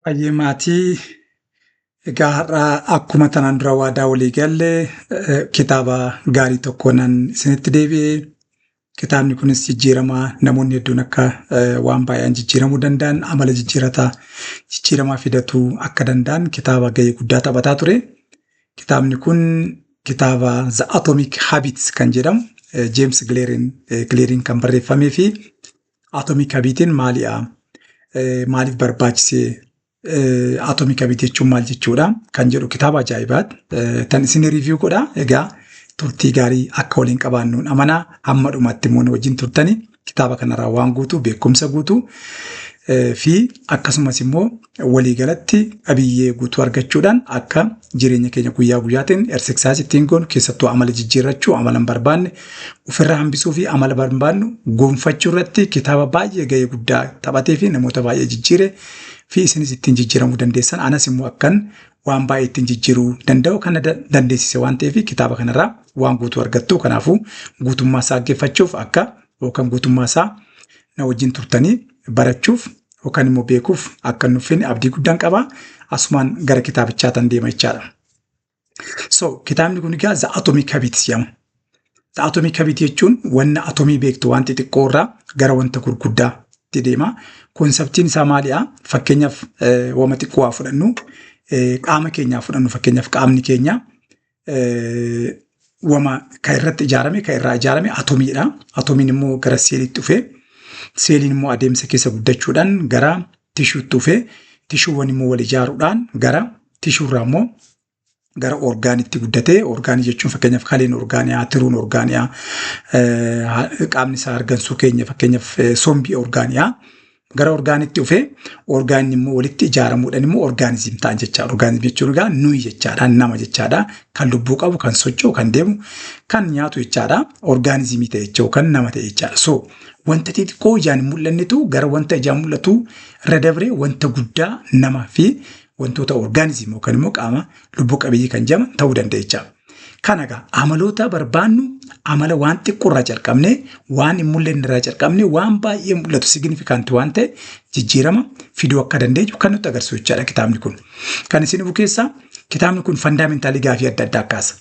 Baay'ee maatii egaa har'a akkuma tanaan dura waadaa walii galle eh, kitaaba gaarii tokko nan isinitti deebi'e. Kitaabni kunis jijjiirama namoonni hedduun akka eh, waan baay'een jijjiiramuu danda'an amala jijjiirataa jijjiiramaa fidatuu akka danda'an kitaaba gahee guddaa taphataa ture. Kitaabni kun kitaaba The Atomic Habits kan jedhamu Jeems Gileeriin kan barreeffamee fi Atomic Habitiin maaliidha? Maaliif barbaachisee? Atomic Habit jechuun maal jechuudha? Kan jedhu kitaaba ajaa'ibaati. Tan isin riiviyuu godha. Egaa turtii gaarii akka waliin qabaannuun amanaa hamma dhumatti immoo wajjin turtanii kitaaba kanarraa waan guutuu beekumsa guutuu fi akkasumas immoo waliigalatti qabiyyee guutuu argachuudhaan akka jireenya keenya guyyaa guyyaatiin ersiksaas ittiin goonu keessattuu amala jijjiirrachuu amala hin barbaanne ofirraa hambisuu fi amala barbaannu gonfachuu irratti kitaaba baay'ee ga'ee guddaa taphatee fi namoota baay'ee jijjiire fi isinis ittiin jijjiiramuu dandeessan anas immoo akkan waan baay'ee ittiin jijjiiruu danda'u kana dandeessise waan ta'eef kitaaba kanarraa waan guutuu argattu. Kanaafuu guutummaa isaa dhaggeeffachuuf akka yookaan guutummaa isaa na wajjin turtanii barachuuf yookaan immoo beekuuf akka nuffin abdii guddaan qaba. Asumaan gara kitaabichaa tan deema jechaadha. So kitaabni kun egaa The Atomic Habits jedhama. Atomii kabiti jechuun wanna atomii beektu waan xixiqqoo irraa gara wanta gurguddaa itti deema. Konseptiin isaa maali'a? Fakkeenyaaf wama xiqqoo haa fudhannu. Qaama keenyaa fudhannu fakkeenyaaf qaamni keenya wama kan irratti ijaarame kan irraa ijaarame atomiidha. Atomiin immoo gara seeliitti dhufee seeliin immoo adeemsa keessa guddachuudhaan gara tishuutti dhufee tishuuwwan immoo wal ijaaruudhaan gara tishuurraa immoo gara orgaanitti guddatee orgaanii jechuun fakkeenyaaf kaleen orgaaniyaa tiruun orgaaniyaa qaamni isaa argansuu keenya fakkeenyaaf sombii orgaaniyaa gara orgaanitti dhufee orgaanni immoo walitti ijaaramuudhaan immoo orgaanizim ta'an jechaadha. Orgaanizim jechuun egaa nuyi jechaadha nama jechaadha kan lubbuu qabu kan socho'u kan deemu kan nyaatu jechaadha orgaanizimii ta'e jechuun kan nama ta'e jechaadha. So wanta xixiqqoo ijaan hin mul'annetu gara wanta ijaan mul'atu irra dabree wanta guddaa nama fi wantoota orgaanizimii yookaan immoo qaama lubbuu qabeeyyii kan jedhaman ta'uu danda'a. Kana egaa amaloota barbaannu amala waan xiqqoo irraa calqabnee waan hin mul'anne irraa calqabnee waan baay'ee mul'atu signifikanti waan ta'e jijjiirama fiduu akka dandeenyu kan nutti agarsiisu jechaadha kitaabni kun. Kan isin dhufu keessaa kitaabni kun fandaamintaalii gaafii adda addaa kaasa.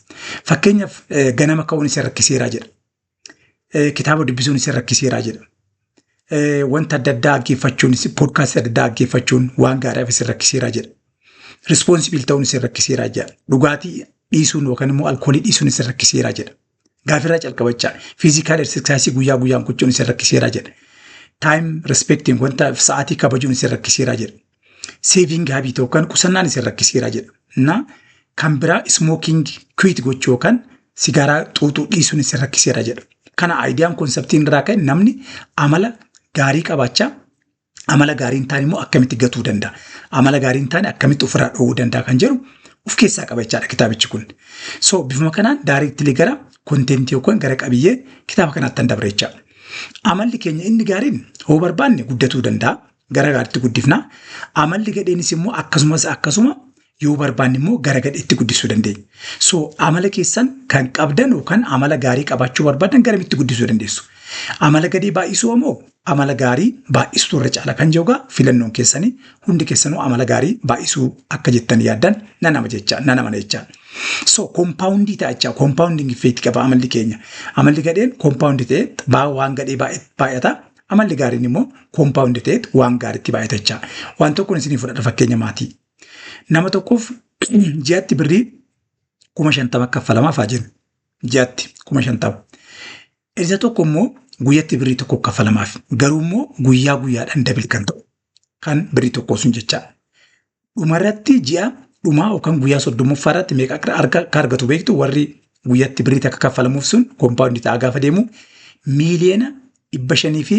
Fakkeenyaaf ganama ka'uun isa rakkiseeraa jedha. kitaaba dubbisuun isin rakkiseeraa jedha. Wanta adda addaa dhaggeeffachuun, poodkaastii adda addaa dhaggeeffachuun waan gaariif isin rakkiseeraa jedha. Rispoonsibil ta'uun isin rakkiseeraa jedha. Dhugaatii dhiisuun yookaan immoo alkoolii dhiisuun isin rakkiseeraa jedha. Gaafirraa calqabachaa fiizikaal eksirsaayisii guyyaa guyyaan gochuun isin rakkiseeraa jedha. Taayim respektiin wanta sa'aatii kabajuun isin rakkiseeraa jedha. seeviin gaabii ta'u kan qusannaan isin rakkiseera jedha. Na kan biraa ismooking kwiit gochuu yookaan sigaaraa xuuxuu dhiisuun isin rakkiseera jedha. Kana aayidiyaan konseptiin irraa ka'e namni amala gaarii qabaachaa amala gaarii hin taane immoo akkamitti gatuu danda'a? Amala gaarii hin taane akkamitti ofirraa dhoowwuu danda'a kan jedhu of keessaa qaba jechaadha kitaabichi kun. So bifuma kanaan daariitti gara kontentii yookaan gara qabiyyee kitaaba kanaatti kan dabre jechaadha. Amalli keenya inni gaariin hoo barbaanne guddatuu danda'a. gara gaariitti guddifna. Amalli gadheenis immoo akkasumas akkasuma yoo barbaanne immoo gara gadheetti guddisuu dandeenya. So amala keessan kan qabdan yookaan amala gaarii qabaachuu barbaadan garamitti guddisuu dandeessu. Amala gadhee baay'isuu ammoo amala gaarii baay'isuu irra caala kan jedhu egaa filannoon keessanii hundi keessanuu amala gaarii baay'isuu akka jettan yaaddan nan ama jecha nan amana jecha. So kompaawundii ta'a jecha kompaawundiin effeekti qaba amalli keenya. Amalli gadheen kompaawundii ta'ee baa- waan gadhee baay'e- baay'ata Amalli gaariin immoo koompaawundi ta'eet waan gaariitti baay'atachaa. Waan tokkoon isinii fudhadha fakkeenya maatii. Nama tokkoof ji'atti birrii kuma shantama kaffalamaaf haa jennu. Ji'atti kuma shantama. Isa tokko immoo guyyatti birrii tokko kaffalamaaf. Garuu immoo guyyaa guyyaadhaan dabili kan ta'u. Kan birrii tokkoo sun jecha. Dhumarratti ji'a dhumaa yookaan guyyaa soddommaffaa irratti meeqa akka arga- akka argatu beektu warri guyyatti birrii takka kaffalamuuf sun kompaawundi ta'aa gaafa deemu miiliyoona dhibba shanii fi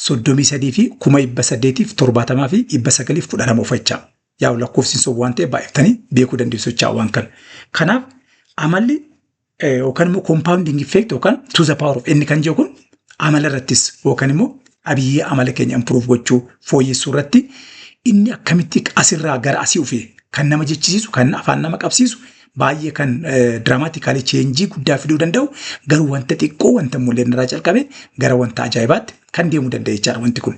soddomii sadii fi kuma dhibba saddeetiif torbaatamaa fi dhibba sagaliif kudha lama uffachaa. Yaa lakkoofsi sun waan ta'eef baay'iftanii beekuu dandeessu jechaa waan kana. Kanaaf amalli yookaan immoo compounding effect yookaan to the power of n kan jedhu kun amala irrattis yookaan immoo qabiyyee amala keenya improve gochuu fooyyessuu irratti inni akkamitti asirraa gara asii dhufee kan nama jechisiisu kan afaan nama qabsiisu baay'ee kan diraamaatikaalii cheenjii guddaa fiduu danda'u garuu wanta xiqqoo wanta mul'inarraa calqabe gara wanta ajaa'ibaatti kan deemuu danda'e jechaadha wanti kun.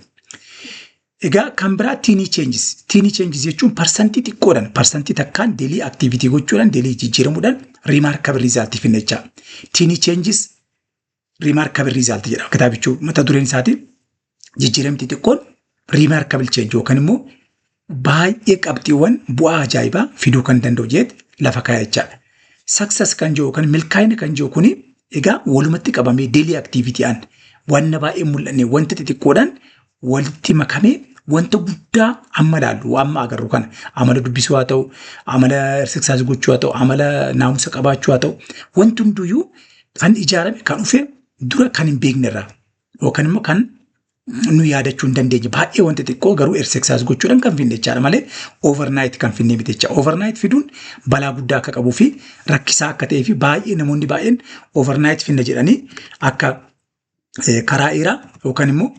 Egaa kan biraa tiinii cheenjis. Tiinii cheenjis jechuun parsantii xiqqoodhaan parsantii takkaan deelii aktiivitii gochuudhaan deelii jijjiiramuudhaan riimaarkabil riizaaltii finna jechaa. Tiinii cheenjis riimaarkabil riizaaltii jedhama. Kitaabichuu mata dureen isaatii jijjiiramti xiqqoon riimaarkabil cheenji yookaan immoo baay'ee qabxiiwwan bu'aa ajaa'ibaa fiduu kan danda'u jeet lafa kaa'e jechaadha. Saksas kan jiru yookaan milkaa'ina kan jiru kuni egaa walumatti qabamee deelii aktiivitii'aan wanna baay'ee mul'anne wanta xixiqqoodhaan walitti makamee wanta guddaa amma ilaallu amma agarru kana amala dubbisuu haa ta'u amala hirsiksaas gochuu haa ta'u amala naamusa qabaachuu haa ta'u wanti hunduyyuu kan ijaarame kan dhufe dura kan hin beekne irraa yookaan immoo kan nu yaadachuu hin dandeenye baay'ee wanta xiqqoo garuu hirsiksaas gochuudhaan kan finne jechaadha malee overnight kan finne miti jecha overnight fiduun balaa guddaa akka qabuu fi rakkisaa akka ta'ee fi baay'ee namoonni baay'een overnight finna jedhanii akka karaa dheeraa yookaan immoo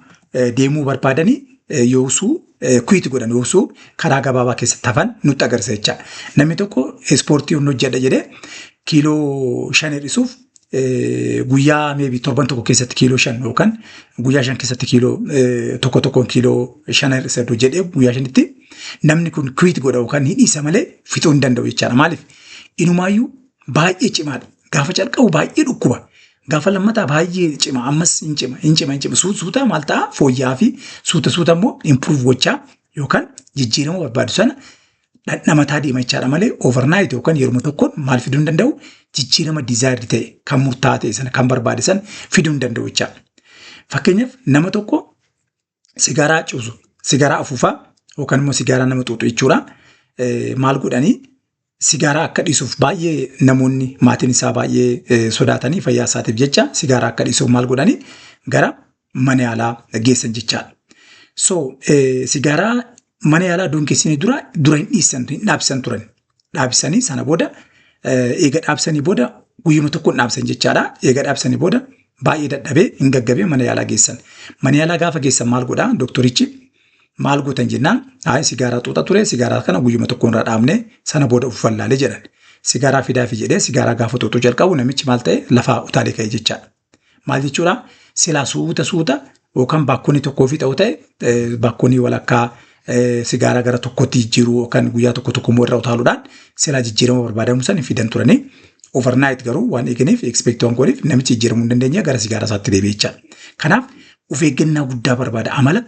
deemuu barbaadanii yoosuu kuyiiti godhan yoosuu karaa gabaabaa keessatti hafan nutti agarsiisa jechaadha. Namni tokko ispoortii humna hojjedha jedhee kiiloo shan hir'isuuf guyyaa meebii torban tokko keessatti kiiloo shan yookaan guyyaa shan keessatti kiiloo tokko tokkoon kiiloo shan hir'isa iddoo jedhee guyyaa shanitti namni kun kuyiiti godha yookaan hidhiisa malee fixuu hin danda'u jechaadha. Maaliif? Inumaayyuu baay'ee cimaadha. Gaafa calqabu baay'ee dhukkuba. Gaafa lammataa baay'ee cima ammas hin cima hin cima hin cima suuta suuta maal ta'a fooyya'aa fi suuta suuta immoo improve gochaa yookaan jijjiirama barbaadu sana dhandhamataa deema jechaadha malee overnight yookaan yeruma tokkoon maal fiduu hin danda'u jijjiirama desired ta'e kan murtaa'aa ta'e sana kan barbaade sana fiduu hin danda'u jechaadha. Fakkeenyaaf nama tokko sigaaraa cuusu, sigaaraa afuufaa yookaan immoo sigaaraa nama xuuxu jechuudha. Maal godhanii sigaaraa akka dhiisuuf baay'ee namoonni maatiin isaa baay'ee sodaatanii fayyaa isaatiif jecha sigaaraa akka dhiisuuf maal godhanii gara mana yaalaa geessan jechaadha. So sigaaraa mana yaalaa duun keessanii dura dura hin dhiisan hin dhaabsisan turan. dhaabsisanii sana booda eh, eega dhaabsanii booda guyyuma tokkoon dhaabsan jechaadha. Eega dhaabsanii booda baay'ee dadhabee hin gaggabee mana yaalaa geessan. Mana yaalaa gaafa geessan maal godhaa doktorichi maal gootan jennaan ayi sigaaraa xuuxa ture sigaaraa kana guyyuma tokkoon irraa dhaabne sana booda of wallaalee jedhan. Sigaaraa fidaafi jedhee sigaaraa gaafa xuuxuu jalqabu namichi maal ta'e lafaa utaalee ka'e jechaadha. Maal jechuudha? Silaa suuta suuta yookaan baakkoonii tokkoo fi ta'u ta'e eh, baakkoonii walakkaa eh, sigaaraa gara tokkotti jijjiiruu yookaan guyyaa tokko tokko immoo irra utaaluudhaan silaa jijjiirama barbaadamu san hin fidan turanii overnight garuu waan eeganiif expect waan godheef namichi jijjiiramuu hin dandeenye gara sigaaraa isaatti deebi'e jechaadha. Kanaaf of eeggannaa guddaa barbaada amala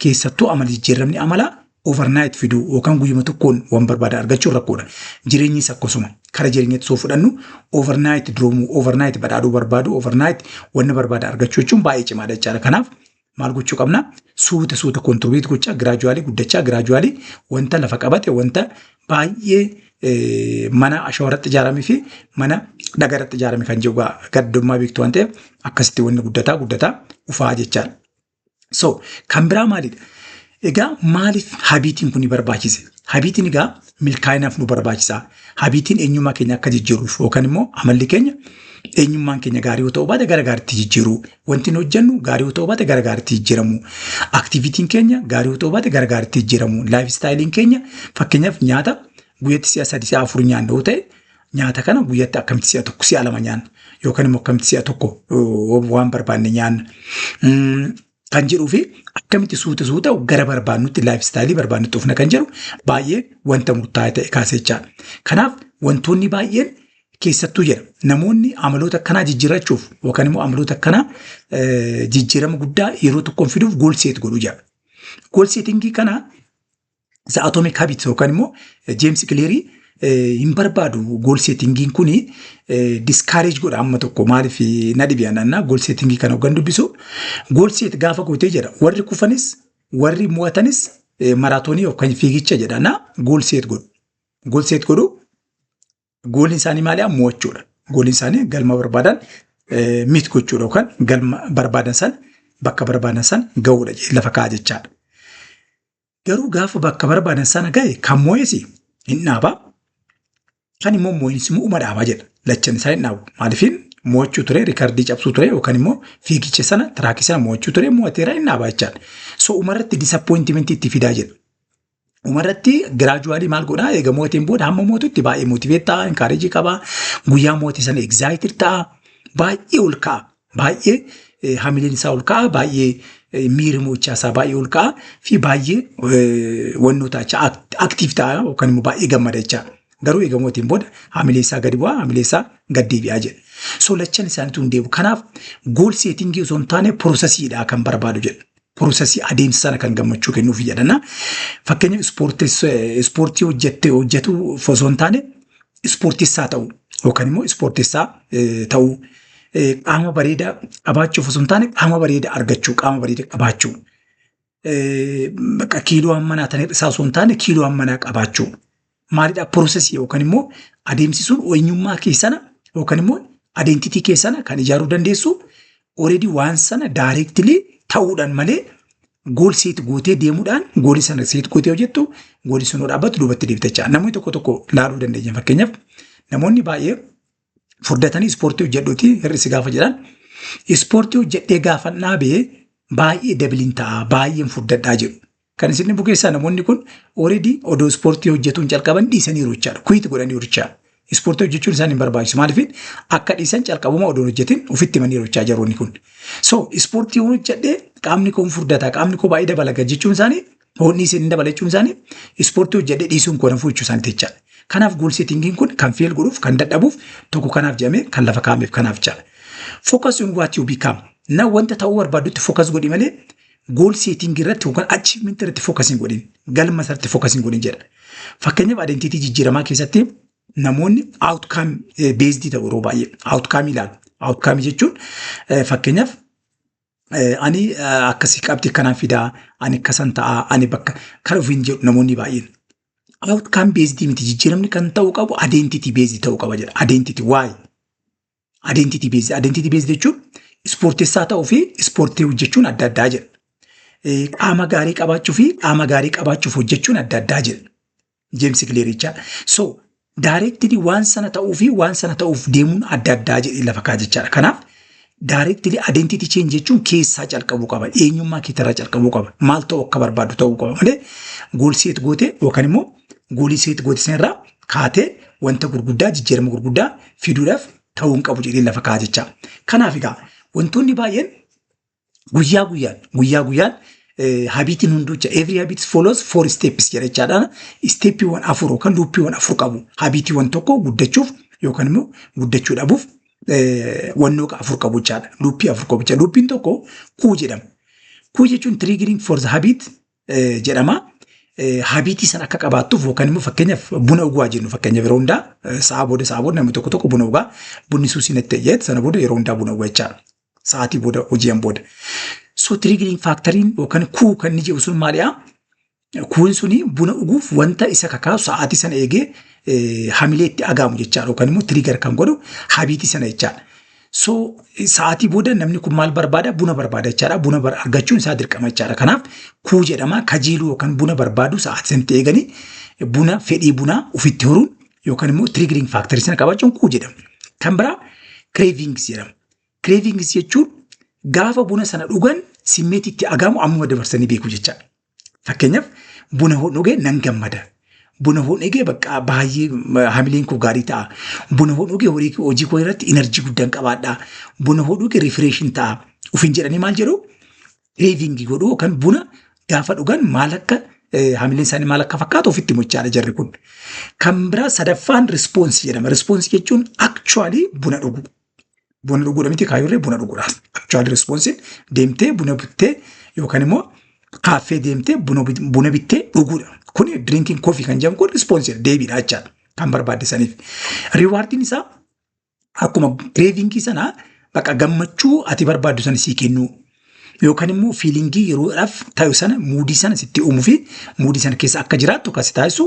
keessattuu amala jijjiiramni amalaa overnight fiduu yookaan guyyuma tokkoon waan barbaada argachuun rakkoodha. Jireenyis akkasuma kara jireenyatti soo fudhannu overnight duroomuu, overnight badhaadhuu barbaadu, overnight wanna barbaada argachuu jechuun baay'ee cimaadha jechaadha. Kanaaf maal gochuu qabna? Suuta suuta kontirbiit gochaa giraajuwaalii guddachaa giraajuwaalii wanta lafa qabate wanta baay'ee eh, mana ashawaa irratti ijaaramee fi mana dhagaa irratti ijaarame kan jiru gaddummaa beektu waan ta'eef akkasitti wanni guddataa guddataa ufaa jechaadha. So kan biraa maalidha? Egaa maaliif habiitiin kun barbaachise? Habiitiin egaa milkaa'inaaf nu barbaachisa. Habiitiin eenyummaa keenya akka jijjiiruuf yookaan immoo amalli keenya eenyummaan keenya gaarii yoo ta'u baate gara gaariitti jijjiiru. Wanti nu hojjennu gaarii yoo ta'u baate gara gaariitti jijjiiramu. Aktivitiin keenya gaarii yoo ta'u baate gara gaariitti jijjiiramu. Laayif istaayiliin keenya fakkeenyaaf nyaata guyyatti si'a sadii si'a afur nyaanna yoo ta'e Nyaata kana guyyatti akkamitti si'a tokko si'a lama nyaanna yookaan immoo akkamitti si'a tokko waan barbaanne nyaanna kan jedhuu fi akkamitti suuta suuta gara barbaannutti laayif istaayilii barbaannutti dhufna kan jedhu baay'ee wanta murtaa'e ta'e kaasechaa. Kanaaf wantoonni baay'een keessattuu jedha namoonni amaloota akkanaa jijjiirrachuuf yookaan immoo amaloota akkanaa jijjiirama guddaa yeroo tokkoon fiduuf goolseet godhu jedha. Goolseetingii kana isa atomic habit yookaan immoo James Cleary hin barbaadu goal settingiin kun discourage godha amma tokko maaliif na dhibe anannaa goal settingii kana hoggan dubbisu goal set gaafa gootee jedha warri kufanis warri mo'atanis maraatoonii yookaan fiigicha jedha na goal set godhu goal set godhu gooliin isaanii maali'a mo'achuudha gooliin isaanii galma barbaadan miit gochuudha yookaan galma barbaadan san bakka barbaadan san ga'uudha lafa ka'a jechaadha. Garuu gaafa bakka barbaadan sana gahe kan moo'es hin dhaaba. Kan immoo moo'insi immoo uma dhaaba jedha. Lachan isaa hin dhaabu. Maaliifin moo'achuu ture, riikardii cabsuu ture yookaan immoo fiigicha sana, tiraakii sana moo'achuu ture, moo'ateera hin dhaaba jechaan. So umarratti disappointimentii itti fidaa jedha. Umarratti giraajuwaalii maal godhaa eega moo'ateen booda hamma moo'atutti baay'ee motiveet ta'a, inkaareejii qaba. Guyyaa moo'ate sana egzaayitir ta'a. Baay'ee ol ka'a. baay'ee hamileen isaa ol ka'a, baay'ee miira mo'ichaa isaa baay'ee ol ka'a fi baay'ee wannoo taachaa aktiif ta'a yookaan immoo baay'ee gammada jechaa. Garuu egaa mootiin booda hamilee isaa gadi bu'aa, hamilee isaa gad deebi'aa jedha. So lachan isaaniitu hin deemu. Kanaaf gool seetingii osoo hin taane piroosesiidha kan barbaadu jedha. Piroosesii adeemsa sana kan gammachuu kennuuf yaadana. Fakkeenya ispoortii hojjette hojjetu osoo hin taane ispoortessaa ta'u yookaan immoo ispoortessaa ta'uu qaama bareedaa qabaachuuf osoo hin taane qaama bareedaa argachuu qaama bareedaa qabaachuu kiiloo hammanaa ta'e isaa osoo hin taane kiiloo hammanaa qabaachuu maalidha process yookaan immoo adeemsi sun eenyummaa keessana yookaan immoo identity keessana kan ijaaruu dandeessu already waan sana directly ta'uudhaan malee gool seet gootee deemuudhaan goolii sana seet gootee hojjettu goolii sun yoo dhaabbatu duubatti deebitachaa. Namoonni tokko tokko laaluu dandeenya fakkeenyaaf namoonni baay'ee furdatanii ispoortii hojjedhuuti hir'i si gaafa jedhan ispoortii hojjedhee gaafan dhaabee baay'ee dabiliin ta'a baay'een furdadhaa jedhu. Kan isin dhibbu keessaa namoonni kun already odoo ispoortii hojjetuun calqaban dhiisaniiru jechaadha. Kuyiiti godhaniiru jechaadha. Ispoortii hojjechuun isaan hin barbaachisu. Maaliif akka dhiisan calqabuma odoo hojjetin ofitti himaniiru jechaa jaroonni kun. So ispoortii hojjedhee qaamni koo hin furdata qaamni koo baay'ee dabalaga jechuun isaanii Boonni isin hin dabala jechuun isaanii ispoortii hojjedhee dhiisuun koo na fuuchuu isaaniiti jechaadha. Kanaaf gool seetingiin kun kan feel godhuuf kan dadhabuuf tokko kanaaf jedhamee kan lafa kaa'ameef kanaaf jechaadha. Focus on what you become. Na wanta ta'uu barbaadutti focus godhi malee gool seetingii irratti yookaan achievement irratti focus hin godhin. Galma isaatti focus hin godhin jedha. Fakkeenyaaf identiitii jijjiiramaa keessatti namoonni outcome eh, based ta'u yeroo baay'ee outcome ilaalu. Outcome jechuun eh, fakkeenyaaf Ani akkasii qabxii akkanaan fidaa, ani akkasan ta'aa, ani bakka kan ofiin jedhu namoonni baay'een. Outcome based miti jijjiiramni kan ta'uu qabu identity based ta'uu qaba jedha. Identity why? Identity based identity based jechuun ispoortessaa ta'uu fi ispoortii hojjechuun adda addaa jedha. Qaama gaarii qabaachuu fi qaama gaarii qabaachuuf hojjechuun adda addaa jedha. Jeemsi Kileer jechaa. So daayireektilii waan sana ta'uu fi waan sana ta'uuf deemuun adda addaa jedhee lafa kaa jechaadha. Kanaaf daayireektilii adeentiitii cheen jechuun keessaa calqabuu qaba. Eenyummaa keetirraa calqabuu qaba. Maal ta'uu akka barbaadu ta'uu qaba malee gool seet gootee yookaan immoo goolii seet goote sanarraa kaatee wanta gurguddaa jijjiirama gurguddaa fiduudhaaf ta'uu hin qabu jedhee lafa kaa jechaa. Kanaaf egaa wantoonni baay'een Guyyaa guyyaan guyyaa guyyaan habiitiin hunduucha every habit follows four steps jedha jechaadhaan steeppiiwwan afur yookaan luuppiiwwan afur qabu habiitiiwwan tokko guddachuuf yookaan immoo guddachuu dhabuuf wannoo afur qabu jechaadha luuppii afur qabu jechaadha luuppiin tokko kuu jedhama kuu jechuun triggering for the habit jedhama habiitii san akka qabaattuuf yookaan immoo fakkeenyaaf buna dhugaa jennu fakkeenya yeroo hundaa sa'a booda sa'a booda namni tokko tokko buna dhugaa bunni suusii natti ta'e sana booda yeroo hundaa buna dhugaa jechaadha. sa'aatii booda hoji'an booda. So triggering factoriin yookaan kuu kan inni jedhu sun maalidha? Kuun suni buna dhuguuf wanta isa kakaasu sa'aatii sana eegee eh, hamilee itti agaamu jechaadha yookaan immoo trigger kan godhu habiitii sana jechaadha. So sa'aatii booda namni kun maal barbaada? Buna barbaada jechaadha. Buna bar- argachuun isaa dirqama jechaadha. Kanaaf kuu jedhama kajeeluu yookaan buna barbaadu sa'aatii sanatti eeganii buna fedhii bunaa ofitti horuun yookaan immoo triggering factory sana qabachuun kuu jedhama. Kan biraa cravings jedhama. Cravings jechuun gaafa buna sana dhugan simmeetii itti agaamu ammuma dabarsanii beeku jechaadha. Fakkeenyaaf buna hoon dhugee nan gammada. Buna hoon dhugee bakka baay'ee hamileen koo gaarii ta'a. Buna hoon dhugee hojii koo irratti inarjii guddaan qabaadha. Buna hoon dhugee rifireeshin ta'a. Ofiin jedhanii maal jedhu? Reevingi godhu yookaan buna gaafa dhugan maal akka hamileen isaanii maal akka fakkaatu ofitti muchaadha jarri kun. Kan biraa sadaffaan rispoonsi jedhama. Rispoonsi jechuun akchuwaalii buna dhugu. Buna dhuguudha miti kaayurree buna dhuguudha. Actual responsiin deemtee buna bittee yookaan immoo kaaffee deemtee buna bit- buna bittee dhuguudha. Kun drinking coffee kan jedhamu kun responsiin deebiidha jechaadha kan barbaadisaniif. Riwaardiin isaa akkuma craving sanaa bakka gammachuu ati barbaaddu sana sii kennuu. yookaan immoo fiilingii yeroodhaaf taa'u sana muudii sana sitti uumuu fi muudii sana keessa akka jiraattu kan si taasisu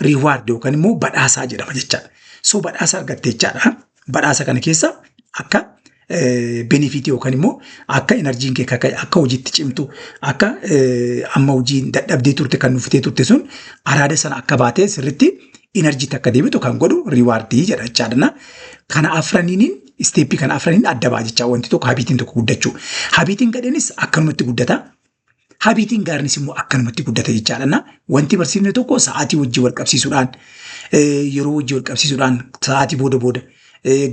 riiwaard yookaan immoo badhaasaa jedhama jechaadha. So badhaasa argatte jechaadha. Badhaasa kana keessa akka benefiitii yookaan immoo akka enerjiin kee akka akka hojiitti cimtu akka eh, amma hojiin dadhabdee turte kan nuffitee turte sun araada sana akka baatee sirritti enerjiitti akka deebitu kan godhu riiwaardii jedha jechaadha. Kana afraniin isteeppii kana afraniin adda ba'a jechaa wanti tokko habiitiin tokko guddachuu. Habiitiin gadheenis akkanumatti guddata. Habiitiin gaariinis immoo akkanumatti guddata jechaadha. Wanti barsiifne tokko sa'aatii wajjin wal qabsiisuudhaan yeroo wajjin wal qabsiisuudhaan sa'aatii booda booda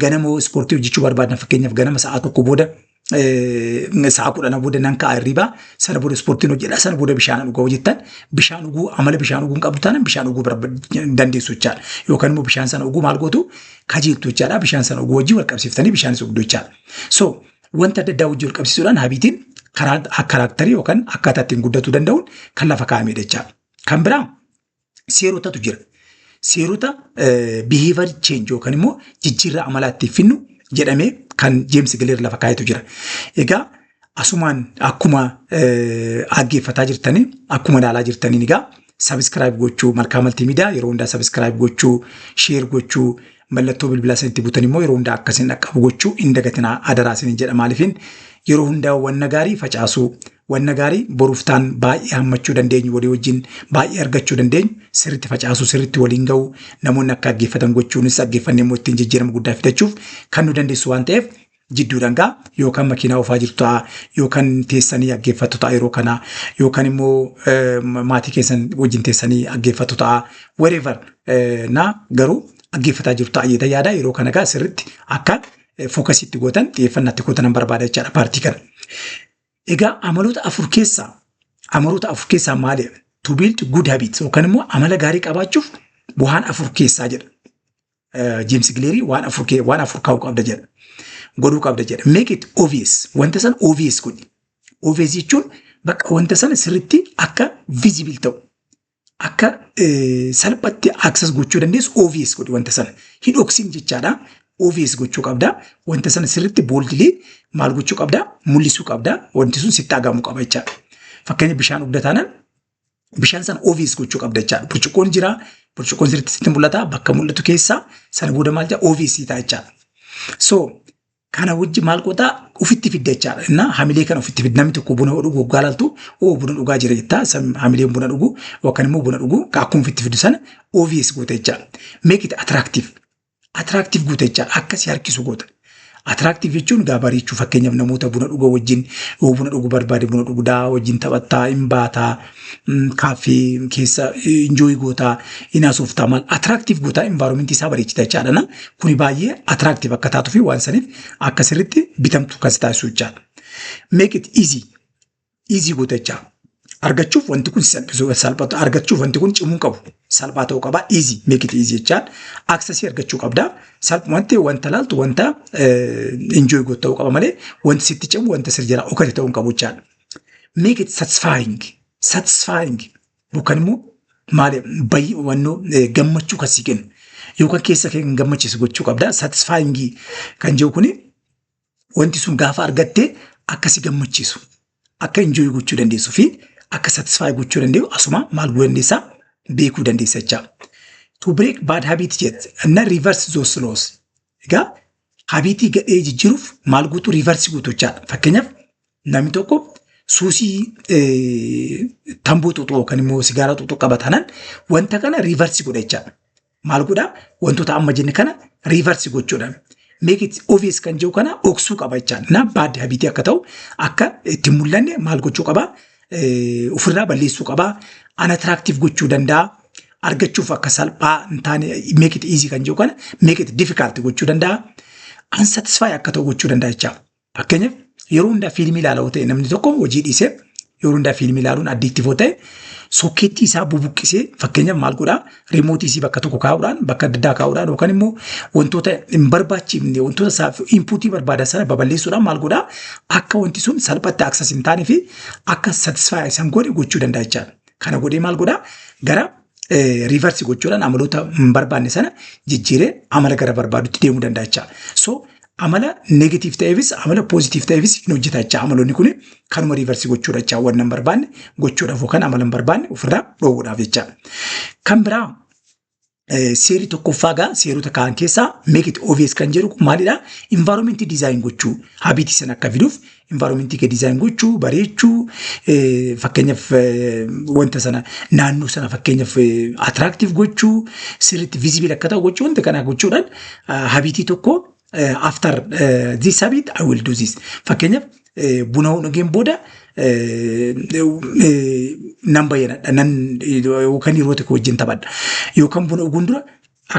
ganama ispoortii hojjechuu barbaadan fakkeenyaaf ganama sa'aa tokko booda sa'a kudhana booda nan ka'a hirriba sana booda ispoortiin hojjedha sana booda bishaan dhugaa hojjettan bishaan dhuguu amala bishaan dhuguu hin qabdu taanaan bishaan dhuguu dandeessu jechaadha yookaan immoo bishaan sana dhuguu maal gootu kajeeltu jechaadha bishaan sana dhuguu wajjin wal qabsiiftanii bishaan isa dhugdu jechaadha so wanta adda addaa wajjin wal qabsiisuudhaan habiitiin karaaktarii yookaan akkaataa ittiin guddatuu danda'uun kan lafa kaa'amedha jechaadha kan biraa seerotatu jira. Seerota behavior change yookaan immoo jijjiirraa amalaa ittiin finnu jedhamee kan Jeemsi Gileer lafa kaa'etu jira. Egaa asumaan akkuma dhaggeeffataa jirtanii akkuma ilaalaa jirtaniin egaa sabiskiraayib gochuu malkaa maltiimiidiyaa yeroo hundaa sabiskiraayib gochuu sheer gochuu mallattoo bilbilaa isinitti butan immoo yeroo hundaa akkasiin dhaqqabu gochuu hin dagatinaa adaraa isiniin jedha maaliifin yeroo hundaa wanna gaarii facaasuu Wanna gaarii boruuf taan baay'ee hammachuu dandeenyu, walii wajjin baay'ee argachuu dandeenyu, sirriitti facaasuu, sirriitti waliin ga'uu, namoonni akka dhaggeeffatan gochuunis dhaggeeffannee immoo ittiin jijjiirama guddaa fidachuuf kan nu dandeessu waan ta'eef jidduudhaan gaa yookaan makiinaa oofaa jirtu ta'a yookaan teessanii dhaggeeffattu ta'a yeroo kana yookaan immoo eh, ma- maatii keessan wajjin teessanii dhaggeeffattu ta'a wherever eh, na garuu dhaggeeffataa jirtu ta'a jedha yaada yeroo kana gaa sirriitti akka fookasiitti gootan xiyyeeffannaatti gootan nan barbaada jechaadha paartii kana. Egaa amaloota afur keessaa amaloota afur keessaa maali? To build good habits yookaan immoo amala gaarii qabaachuuf waan afur keessaa jedha. Jeemsi Gileerii waan afur kee waan afur kaa'uu qabda jedha. Godhuu qabda jedha. Make it obvious. Wanta sana obvious godhi. Obvious jechuun bakka wanta sana sirriitti akka visible ta'u. akka salphatti access gochuu dandeessu obvious godhi wanta sana. Hin dhoksin jechaadha. Obvious gochuu qabda. Wanta sana sirriitti boldly maal gochuu qabda? Mul'isuu qabda. Wanti sun sitti dhagahamu qaba jechaadha. Fakkeenya bishaan dhugda taanaan bishaan sana obvious gochuu qabda jechaadha. Burcuqqoon jira. Burcuqqoon sirriitti sitti mul'ata. Bakka mul'atu keessaa sana booda maal jedha? Obvious ta'a jechaadha. So Kana wajji maal gootaa ofitti fidda jechaadha. Innaa hamilee kana ofitti fidda namni tokko buna dhugu waggaa laaltu oo buna dhugaa jira jettaa san hamileen buna dhugu yookaan immoo buna dhugu akkuma ofitti fiddu sana obvious goota jechaadha. Make it attractive. Attractive goota jechaadha akka si harkisu goota. Attractive jechuun gaa bareechuu fakkeenyaaf namoota buna dhuga wajjin yoo buna dhugu barbaade buna dhugdaa wajjin taphattaa hin baataa kaaffee keessa injooyi gootaa hin haasoftaa maal atiraaktiif gootaa envaaroomentii isaa bareechita jechaadha na kuni baay'ee atiraaktiif akka taatuu fi waan saniif akka sirriitti bitamtu kan si taasisu jechaadha. Make it easy easy goota jechaa argachuuf wanti kun si salphisuu salphatu argachuuf wanti kun cimuu hin qabu salphaa ta'uu qaba easy make it easy jechaan aksesii argachuu qabda salphumatti wanta laaltu wanta injooyi gootu ta'uu qaba malee wanti sitti cimu wanta sir jala dhokate ta'uu hin qabu jechaadha. make it satisfying satisfying yookaan immoo maal bayyi wannoo eh, gammachuu kan si kennu yookaan keessa kee kan gammachiisu gochuu qabda satisfying kan jiru kuni wanti sun gaafa argattee akka si gammachiisu akka enjoy gochuu dandeessu fi akka satisfy gochuu danda'u asuma maal gochuu dandeessaa beekuu dandeessa jechaa. To break bad habit jet na reverse those laws Egaa habiitii gadhee jijjiiruuf maal guutuu riivarsi guutuu jechaadha. Fakkeenyaaf namni tokko suusii tamboo xuuxuu yookaan immoo sigaaraa xuuxuu qaba taanaan wanta kana riivarsi godha jechaadha. Maal godhaa wantoota amma jenne kana riivarsi gochuudha. Make it obvious kan jiru kana dhoksuu qaba jechaadha. Na baaddi habiitii akka ta'u akka itti mul'anne maal gochuu qaba eh, ofirraa balleessuu qaba. Unattractive gochuu danda'a. Argachuuf akka salphaa hin taane make it easy kan jedhu kana make it difficult gochuu danda'a. Unsatisfy akka ta'u gochuu danda'a jechaaf. Fakkeenyaaf yeroo hundaa fiilmii ilaalaa yoo ta'e namni tokko hojii dhiisee yeroo hundaa fiilmii ilaaluun addiiktiif yoo ta'e sokkeettii isaa bubuqqisee fakkeenyaaf maal godhaa Riimootii isii bakka tokko kaa'uudhaan bakka adda addaa kaa'uudhaan yookaan immoo wantoota hin barbaachifne wantoota isaaf inpuutii barbaadan sana babal'eessuudhaan maal godhaa akka wanti sun salphatti access hin taanee fi akka satisfy isaan godhe gochuu danda'a jechaadha. Kana godhee maal godhaa gara riivarsi gochuudhaan amaloota hin barbaanne sana jijjiiree amala gara barbaadutti deemuu danda'a jechaadha. So Amala negatiif ta'eefis amala poozitiif ta'eefis hin hojjeta jechaa amaloonni kun kanuma riivarsi gochuudha jechaa wanna hin barbaanne gochuudhaaf yookaan amala hin barbaanne ofirraa dhoowwuudhaaf jechaa. Kan biraa eh, seerri tokkoffaa gaa seerota kaan keessaa make it obvious kan jedhu kun maalidha? Environment design gochuu habiitii sana akka fiduuf Environmentii kee design gochuu, bareechuu, eh, fakkeenyaaf eh, wanta sana naannoo sana fakkeenyaaf eh, attractive gochuu, sirriitti visible akka ta'u gochuu, wanta kana gochuudhaan ah, habiitii tokko eh, after eh, this habit I will do this. Fakkeenyaaf eh, buna dhugeen booda eh, eh, nan bayyana, nan yookaan hiriyoota koo wajjin taphadha. Yookaan buna dhuguun dura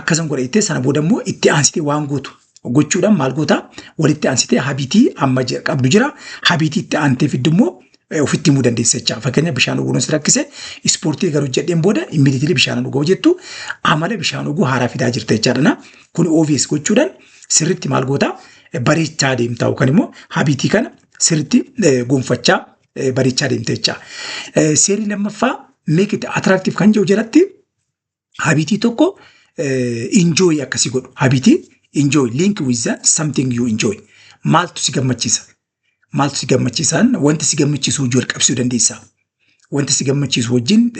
Akkasan godha jettee sana booda immoo itti aansitee waan gootu gochuudhaan maal goota walitti aansitee habitii amma je- qabdu jira habitii itti aantee fiddu immoo eh, ofitti himuu dandeessa jecha fakkeenya bishaan dhuguu nus rakkise ispoortii garuu jedheen booda immediately bishaan dhuguu jettu amala bishaan dhuguu haaraa fidaa jirta jechaadha kun obvious gochuudhaan sirritti maal goota eh, bareechaa deemta yookaan immoo habitii kana sirritti eh, gonfachaa eh, bareechaa deemta jecha Eh, seerri lammaffaa make it attractive kan jedhu jalatti habitii tokko enjoy akka si godhu habitii enjoy link with the something you enjoy maaltu si gammachiisa maaltu si gammachiisaan wanti si gammachiisu hojii wal qabsiisuu dandeessaa wanti si gammachiisu wajjin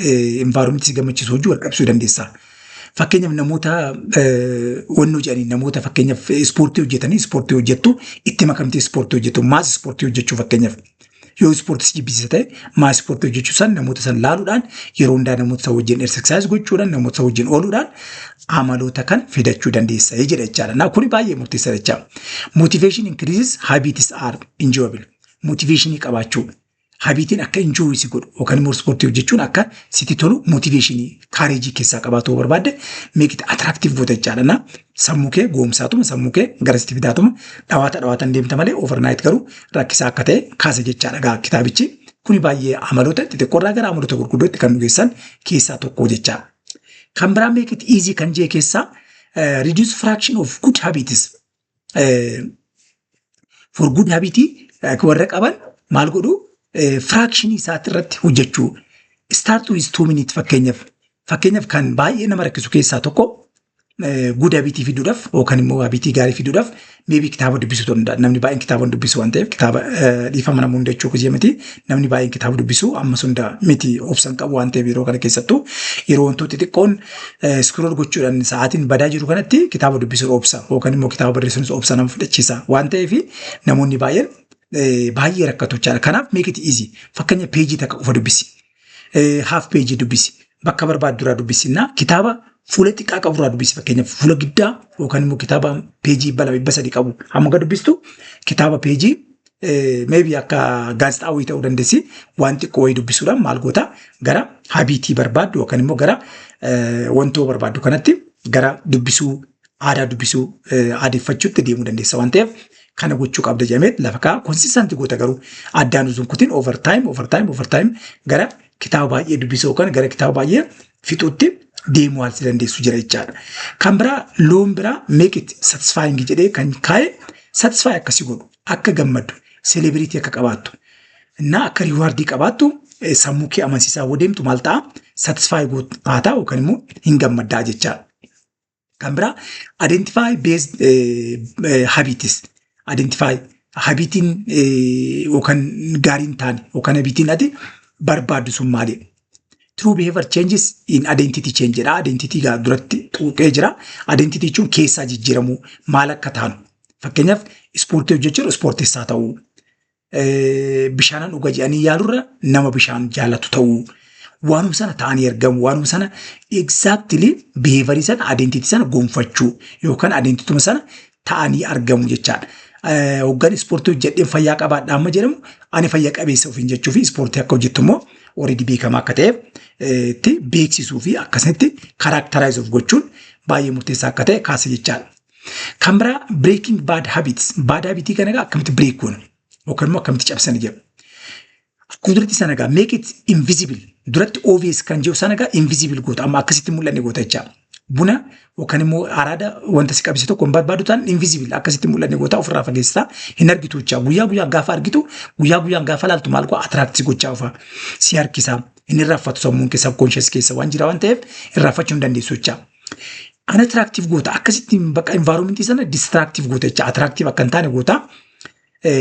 environment si gammachiisu hojii wal qabsiisuu dandeessaa fakkeenyaaf namoota wannoo jedhanii namoota fakkeenyaaf ispoortii hojjetanii ispoortii hojjettu itti makamtee ispoortii hojjettu maas ispoortii hojjechuu fakkeenyaaf Yoo ispoortii si jibbisiisa ta'e maa ispoortii hojjechuu san namoota san laaluudhaan yeroo hundaa namoota san wajjin exercise gochuudhaan namoota san wajjin ooluudhaan amaloota kan fidachuu dandeessa jedha jechaadha. Naa kuni baay'ee murteessaa jecha. Motivation increases habits are enjoyable. Motivationii qabaachuu habiitiin akka enjoy si godhu yookaan immoo ispoortii hojjechuun akka sitti tolu motivationii kaareejii keessaa qabaatu yoo barbaadde make it attractive goota jechaadha. Naa Sammuu kee goomsaatuma sammuu kee garasitti fidaatuma dhawaata dhawaatan deemta malee overnight garuu rakkisaa akka ta'e kaasa jechaa dhagaa kitaabichi kuni baay'ee amaloota xixiqqoo irraa gara amaloota gurguddootti kan nu geessan keessaa tokko jechaa. Kan biraa make it easy kan jee keessaa eh, reduce fraction of good habits eh, for good habit eh, warra qaban maal godhu eh, fraction isaati irratti hojjechuu start with two minutes fakkeenyaaf fakkeenyaaf kan baay'ee nama rakkisu keessaa tokko guda bitii fiduudhaaf yookaan immoo bitii gaarii fiduudhaaf meebii kitaaba dubbisuu ta'uu danda'a. Namni baay'een kitaaba hin dubbisu waan ta'eef kitaaba dhiifama nama hunda jechuu kiyya miti. Namni baay'een kitaaba dubbisu ammas hunda miti obsan qabu waan ta'eef yeroo kana keessattuu yeroo wantoota xixiqqoon iskrool gochuudhaan sa'aatiin badaa jiru kanatti kitaaba dubbisuun obsa yookaan immoo kitaaba barreessuunis obsa nama fudhachiisa waan ta'eef namoonni baay'een baay'ee rakkatu jechaadha. Kanaaf meekiti izi fakkeenya peejii takka qofa dubbisi. haaf peejii dubbisi. Bakka barbaaddu irraa dubbisinnaa kitaaba fuula xiqqaa qabu irraa dubbisi. Fakkeenyaaf fuula giddaa yookaan immoo kitaaba peejii dhibba lama dhibba sadii qabu hamma gad dubbistu kitaaba peejii meebii akka gaazexaa wayii ta'uu dandeessi waan xiqqoo wayii dubbisuudhaan maal goota gara habiitii barbaaddu yookaan immoo gara wantoo barbaaddu kanatti gara dubbisuu aadaa dubbisuu aadeffachuutti deemuu dandeessa waan ta'eef kana gochuu qabda jedhamee lafa ka'a. Konsistanti goota garuu addaan uzuun kutiin over time over time over time gara kitaaba baay'ee dubbisuu yookaan gara kitaaba baay'ee fixuutti deemuu haalsi dandeessu jira jechaadha. Kan biraa loon biraa make it satisfying jedhee kan kaa'e satisfy akkasi godhu akka gammaddu celebrity akka qabaattu እና akka riwaardii qabaattu sammuu kee amansiisaa yoo deemtu maal ta'a satisfy goota taataa yookaan immoo hin gammaddaa jechaadha. Kan biraa identify based eh, eh, habits identify habitiin eh, yookaan gaarii hin taane yookaan habitiin ati barbaaddu sun maali? True behavior changes in identity change jedha. Identity gaa duratti xuuxee jira. Identity jechuun keessaa jijjiiramuu maal akka taanu. Fakkeenyaaf ispoortii hojjechuun ispoortessaa ta'uu. bishaanan dhuga jedhanii yaalurra nama bishaan jaalatu ta'uu waanuma sana ta'anii argamu waanuma sana exactly behavior sana identity sana gonfachuu yookaan identituma sana ta'anii argamu jechaadha. Hoggan ispoortii hojjedheen fayyaa qabaadha amma jedhamu ani fayya qabeessa ofiin jechuu fi ispoortii akka hojjettu immoo already beekamaa akka ta'eef itti beeksisuu fi akkasitti karaaktaraayizuuf gochuun baay'ee murteessaa akka ta'e kaasa jechaadha. Kan biraa breaking bad habits. Bad habitii kana egaa akkamitti break goona? Yookaan immoo akkamitti cabsana jedhu. Akkuma duratti sana egaa make it invisible. Duratti obvious kan jiru sana egaa invisible goota. Amma akkasitti mul'anne goota jecha. Buna yookaan immoo araada wanta si qabise tokko hin barbaadu ta'an invisible akkasitti mul'anne goota ofirraa fageessita. Hin argitu jecha. Guyyaa guyyaa gaafa argitu guyyaa guyyaan gaafa laaltu maal goota attract si gochaa ofa. Si harkisa. Inni irraanfatu sammuun keessa conscious keessa waan jira waan ta'eef irraanfachuu hin dandeessu jecha. An atiraaktiif goota akkasitti bakka envaaroomentii sana distiraaktiif goota jecha atiraaktiif akka hin taane goota.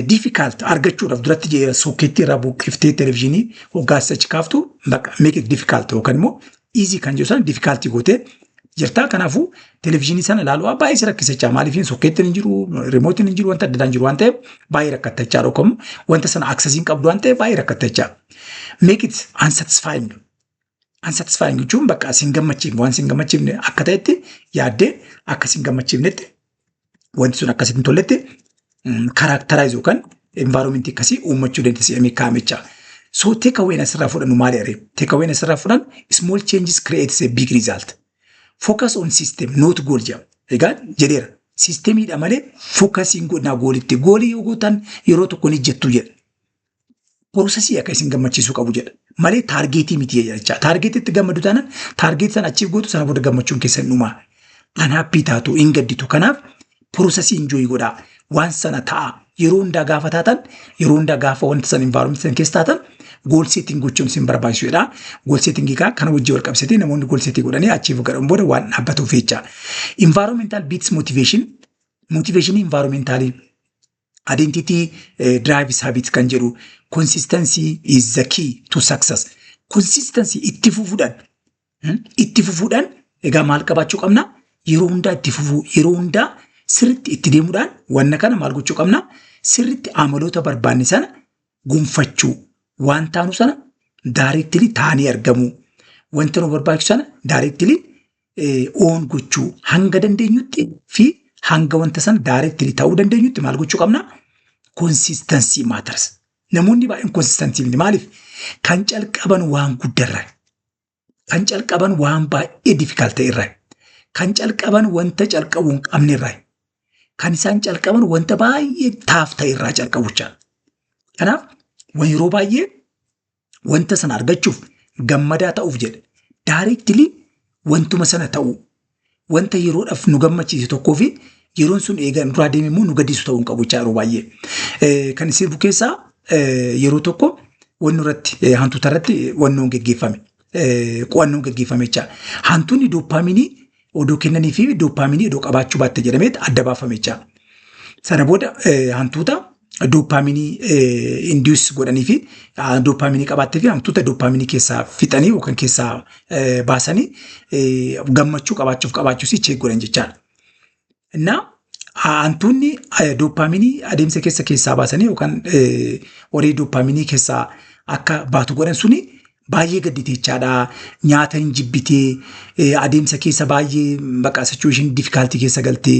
Diifikaalt argachuudhaaf duratti jee sookeettii irraa buqqiftee televezyiinii hoggaas achi kaaftu bakka meeqa diifikaalt yookaan immoo iizii kan jiru sana diifikaaltii gootee jirtaa kanaafuu televezyiinii sana ilaaluu baay'ee si rakkisa jechaa maaliif sookeettiin hin jiru riimootiin hin jiru wanta adda addaa hin jiru waan ta'eef baay'ee rakkatta jechaa dhokkamu wanta sana aksesii hin qabdu waan ta'eef baay'ee rakkatta jechaa. Make it unsatisfying Unsatisfying jechuun bakka isin gammachiifne waan isin gammachiifne akka ta'etti yaaddee akka isin gammachiifnetti wanti sun akka isin tolletti karaaktaraayiz yookaan envaaroomentii akkasii uummachuu dandeessi jedhamee kaa'amicha. So take away asirraa fudhannu maali aree? Take away asirraa fudhannu small changes creates a big result. Focus on system not goal jedhama. Egaa jedheera. Siistemiidha malee fookasiin godhinaa goolitti. Goolii yoo gootan yeroo tokko ni jettu jedha. Poroosesii akka isin gammachiisuu qabu jedha. Malee taargeetii miti jecha. Taargeetiitti gammadu taanaan taargeetii sana achiif gootu sana booda gammachuun keessan dhumaa. Kan haappii taatu hin gadditu. Kanaaf poroosesii injooyi godhaa. Waan sana ta'a. Yeroo hundaa gaafa taatan yeroo hundaa gaafa wanta sana envaaromenti sana keessa taatan gool seetiin gochuun isin barbaachisu jedha. Gool seetingii kaa kana wajjin wal qabsiisee namoonni gool seetii godhanii achiif godhan booda waan dhaabbatuuf jecha. Envaaromentaal biits mootiveeshin mootiveeshinii envaaromentaaliin Identity eh, drives habit kan jedhu consistency is the key to success. Consistency itti fufuudhaan hmm, itti fufuudhaan egaa maal qabaachuu qabna? Yeroo hundaa itti fufuu yeroo hundaa sirriitti itti deemuudhaan wanna kana maal gochuu qabna? Sirriitti amaloota barbaanne sana gonfachuu waan taanu sana daareettili taanee argamuu wanta nu barbaachisu sana daareettili oon gochuu hanga dandeenyutti fi hanga wanta sana daayireektilii ta'uu dandeenyutti maal gochuu qabna? Konsistansii maatars. Namoonni baay'een konsistansii miti. Maaliif? Kan calqaban waan guddarra. Kan calqaban waan baay'ee difikaalta irra. Kan calqaban wanta calqabuu hin qabne irra. Kan isaan calqaban wanta baay'ee taaf ta'e irraa calqabu jechaadha. Kanaaf yeroo baay'ee wanta sana argachuuf gammadaa ta'uuf jedhe daareektilii wantuma sana ta'uu wanta yeroodhaaf nu gammachiise tokkoo fi yeroon sun eegaa nu duraa deeme immoo nu gaddisu ta'uu hin qabu jechaa yeroo baay'ee. Eh, Kan sirbu keessaa eh, yeroo tokko wannu irratti eh, hantuuta irratti wannoon geggeeffame eh, qo'annoon geggeeffame jechaa hantuunni dooppaaminii odoo kennanii fi dooppaaminii odoo qabaachuu baatte jedhameet adda baafame jecha. Sana booda hantuuta dooppaaminii induus godhanii fi dooppaaminii qabaattee fi hantuuta dooppaaminii keessaa fixanii yookaan keessaa baasanii gammachuu qabaachuuf qabaachuus cheek godhan jechaadha. Innaa hantuunni dooppaaminii adeemsa keessa keessaa baasanii yookaan horii dooppaaminii keessaa akka baatu godhan suni baay'ee gadditeechaadha. Nyaata hin jibbitee adeemsa keessa baay'ee baqa situation difficulty keessa galtee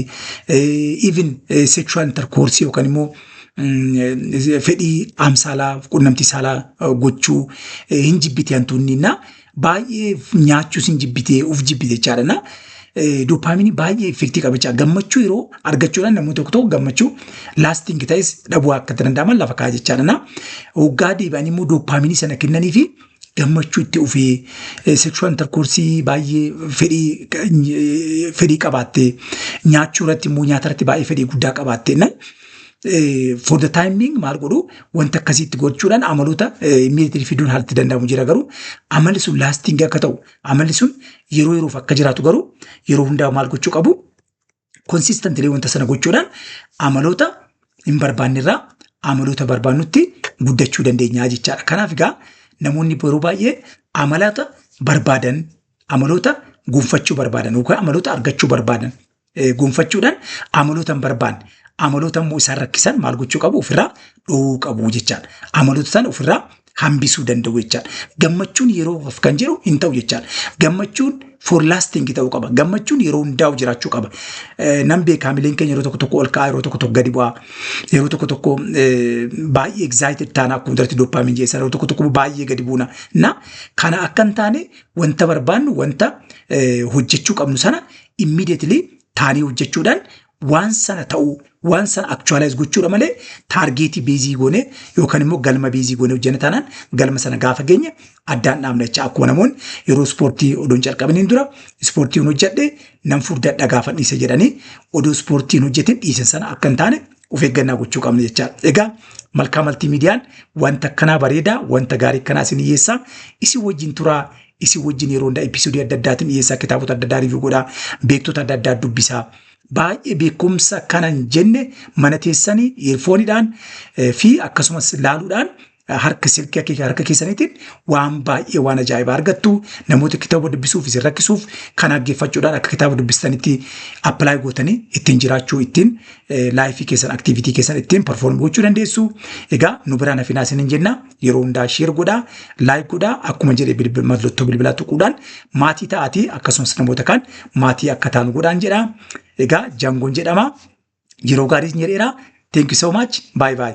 even sexual intercourse yookaan immoo fedhii amsaalaa qunnamtii saalaa gochuu hin jibbitee hantuunni innaa baay'ee nyaachuu sin jibbitee of jibbite jechaadha na doopaaminii baay'ee effektii qaba jechaadha gammachuu yeroo argachuudhaan namni tokko tokko gammachuu laasting ta'es dhabuu akka danda'aman lafa kaa'aa jechaadha na hoggaa deebi'anii immoo doopaaminii sana kennanii fi gammachuu itti ufee sekshuwal interkoorsii baay'ee fedhii eh, fedhii qabaattee nyaachuu irratti immoo nyaata irratti baay'ee fedhii guddaa qabaattee na for the time being maal godhu wanta akkasiitti gochuudhaan amaloota immediately fiduun haalatti danda'amu jira garuu amalli sun lasting akka ta'u amalli sun yeroo yeroof akka jiraatu garuu yeroo hundaa maal gochuu qabu consistently wanta sana gochuudhaan amaloota hin barbaanne irraa amaloota barbaannutti guddachuu dandeenya jechaadha. Kanaaf egaa namoonni yeroo baay'ee amaloota barbaadan amaloota gonfachuu barbaadan yookaan amaloota argachuu barbaadan eh, gonfachuudhaan amaloota hin barbaanne amaloota immoo isaan rakkisan maal gochuu qabu ofirraa dhowuu qabu jechaadha. Amaloota sana ofirraa hambisuu danda'u jechaadha. Gammachuun yeroo of kan jiru hin ta'u jechaadha. Gammachuun for lasting ta'uu qaba. Gammachuun yeroo hundaa'u jiraachuu qaba. Eh, Nan beekaa mileen keenya yeroo tokko tokko ol ka'aa yeroo tokko tokko gadi bu'aa yeroo tokko tokko eh, baay'ee excited taana akkuma duratti doppaamiin jeessan yeroo tokko tokko immoo baay'ee gadi buuna. Na kana akka hin taane wanta barbaannu wanta eh, hojjechuu qabnu sana immediately taanee hojjechuudhaan waan sana ta'uu waan sana actualize gochuudha malee taargeetii beezii goonee yookaan immoo galma beezii goonee hojjenne taanaan galma sana gaafa geenye addaan dhaabna jecha akkuma namoonni yeroo ispoortii odoon calqabaniin dura ispoortiin hojjedhe nan furdadha gaafa dhiise jedhanii odoo ispoortiin hojjetin dhiisan sana akka hin taane of eeggannaa gochuu qabna jecha egaa malkaa maltii miidiyaan wanta akkanaa bareedaa wanta gaarii akkanaa isin dhiyeessaa isin wajjin turaa isin wajjin yeroo hundaa episodii adda addaatiin dhiyeessaa kitaabota adda addaa review godhaa beektota adda addaa dubbisaa baay'ee beekumsa kanan jenne mana teessanii earfooniidhaan eh, fi akkasumas laaluudhaan eh, harka silkii akka- harka keessaniitiin waan baay'ee waan ajaa'ibaa argattu namoota kitaaba dubbisuuf isin rakkisuuf kan dhaggeeffachuudhaan akka kitaaba dubbistanitti appilaayi gootanii ittiin jiraachuu ittiin eh, laayifii keessan aktiivitii keessan ittiin perform gochuu dandeessu egaa nu biraan hafinaa isinin jennaa yeroo hundaa sheer godhaa laayik godhaa akkuma jedhe bilbil- mallattoo bilbilaa tuquudhaan maatii ta'aatii akkasumas namoota kaan maatii akka taanu godhaan jedha egaa jaangoon jedhama yeroo gaarii isin jedheera thank you so much bye bye